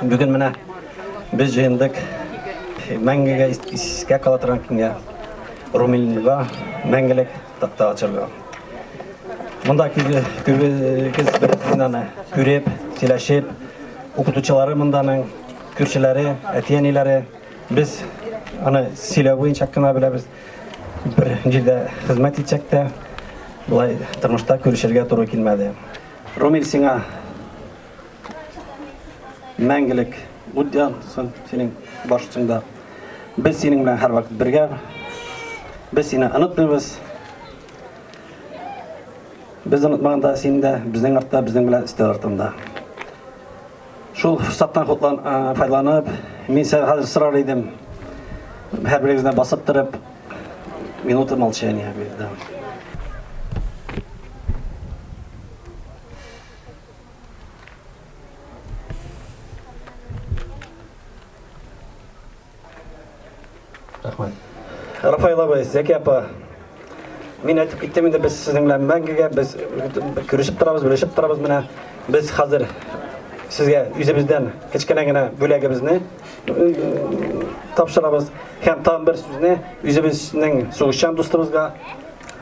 Бүген менә без җыендык мәңгегә искә кала торган көнгә Румилнега мәңгелек такта ачарга. Монда күбегез бер стенаны күреп, сөйләшеп, укытучылары монданың, күршеләре, әти-әниләре, без аны сөйләү буенча кына беләбез. Бер җирдә хезмәт итсәк тә, болай тормышта күрешергә туры килмәде. Румил сиңа Мәңгелек ут янсын синең баш өстеңдә. Без синең белән һәрвакыт бергә. Без сине онытмыйбыз. Без онытмаганда син дә безнең артта, безнең белән өстәл артында. Шул форсаттан файдаланып, мин сәл хәзер сорар идем. Һәр берегезне басып торып, минуты молчания бирде. Рәхмәт. Рафаил абый, Зәки апа, мин әйтеп киттем инде, без сезнең белән мәңгегә, без күрешеп торабыз, белешеп торабыз менә. Без хәзер сезгә үзебездән кечкенә генә бүләгебезне тапшырабыз. Һәм тагын бер сүзне үзебезнең сугышчан дустыбызга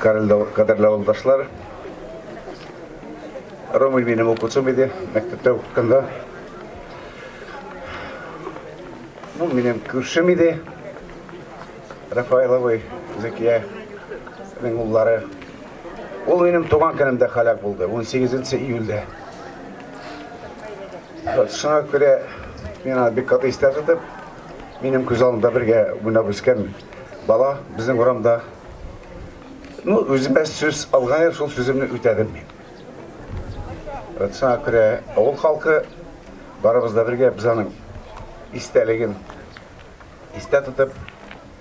Кадерле авылдашлар, Ромый минем укучым иде, мәктәптә укытканда. Ну, минем күршем иде. Рафаиловый Зәкия уллары. Ул минем туган көнемдә халәк булды, 18 июльдә. Шуңа күрә мин аны бик каты истә тотып, минем күз алдымда бергә уйнап үскән бала безнең урамда. Ну, үземә сүз алган идем, шул сүземне үтәдем мин. Вот шуңа күрә авыл халкы барыбыз да бергә без аның истәлеген истә тотып,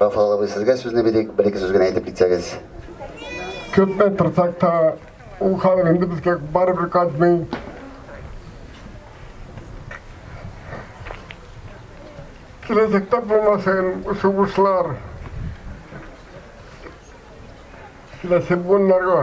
Рафал абый, сезгә сүзне бирик, бер ике сүз генә әйтеп китсәгез. Көппә тырсак та, ул халык инде безгә барыбер кайтмый. Киләчәктә булмасын сугышлар. Киләсе буыннарга.